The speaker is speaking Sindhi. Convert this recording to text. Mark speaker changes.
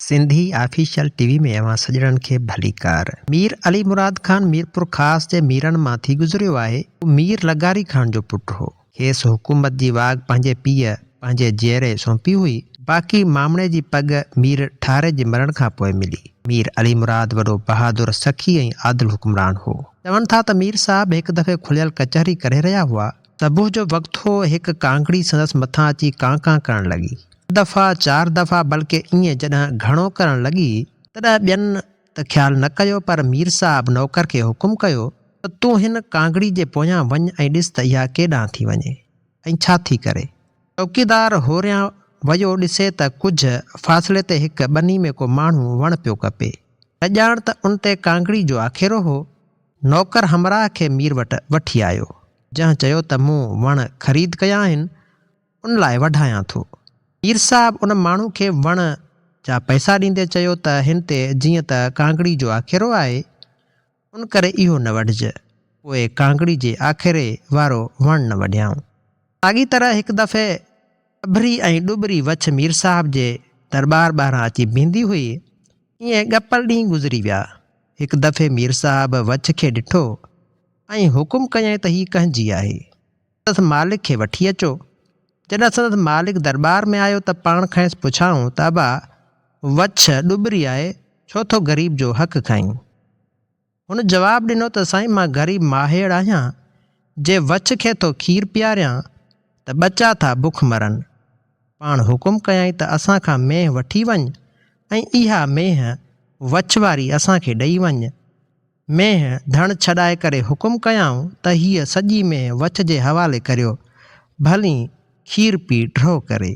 Speaker 1: سنڌي آفيشل ٽي وي ۾ اوهان سڄڻن کي ڀليڪار. مير علي مراد خان ميرپورخاص جي ميرن مان ٿي گذريو آهي. هو مير لغاري خان جو پٽ هو. کيس حڪومت جي واڳ پنهنجي پيء پنهنجي جيئري سونپي هئي. باقي مامڻي جي پڳ مير ٺاري جي مرڻ کان پوء ملي. مير علي مراد وڏو بهادر، سخي ۽ عادل حڪمران هو. چون ٿا ته مير صاحب هڪ دفعي کليل ڪچهري ڪري رهيا هئا صبح جو وقت هو، هڪ ڪانڪڙي سندس مٿان اچي ڪان ڪان ڪرڻ لڳي. ٽه دفعا، چار دفعا بلڪ ائين جڏهن گهڻو ڪرڻ لڳي، تڏهن ٻين ته خيال نه ڪيو پر مير صاحب نوڪر کي حڪم ڪيو ته تون هن ڪانڪڙي جي پويان وڃ ۽ ڏس ته اها ڪيڏانهن ٿي وڃي ۽ ڇا ٿي ڪري. چوڪيدار هوريان ويو ڏسي ته ڪجهه فاصلي تي هڪ ٻني ۾ ڪو ماڻهو وڻ پيو ڪپي. نه ڄاڻ ته ان تي ڪانڪڙي جو آکيرو هو. نوڪر همراهه کي مير وٽ وٺي آيو، جنهن چيو ته مون وڻ خريد ڪيا آهن، ان لاء وڍايان ٿو. مير صاحب ان ماڻهو کي وڻ جا پئسا ڏيندي چيو ته هن تي جيئن ته ڪانگڙي جو آکيرو آهي، ان ڪري اهو نه وڍج، پوء ڪانگڙي جي آکيري وارو وڻ نه وڍيائون. ساڳي طرح هڪ دفعي اڀري ۽ ڏٻري وڇ مير صاحب جي درٻار ٻاهران اچي بيهندي هئي، ائين ڳپر ڏينهن گذري ويا. هڪ دفعي مير صاحب وڇ کي ڏٺو ۽ حڪم ڪيائين ته هيء ڪنهن جي آهي؟ سندس مالڪ کي وٺي اچو. جڏهن سندس مالڪ درٻار ۾ آيو ته پاڻ کانئس پڇيائون ته ابا وڇ ڏٻري آهي، ڇو ٿو غريب جو حق کائين؟ هن جواب ڏنو ته سائين مان غريب ماهيڙ آهيان، جي وڇ کي ٿو کير پياريان ته ٻچا ٿا بک مرن. پاڻ حڪم ڪيائين ته اسان کان مينهن وٺي وڃ ۽ اها مينهن وڇ واري اسان کي ڏئي وڃ. مينهن ڌڻ ڇڏائي ڪري حڪم ڪيائون ته هيء سڄي مينهن وڇ جي حوالي ڪريو، ڀلين کير پي ڍرو ڪري.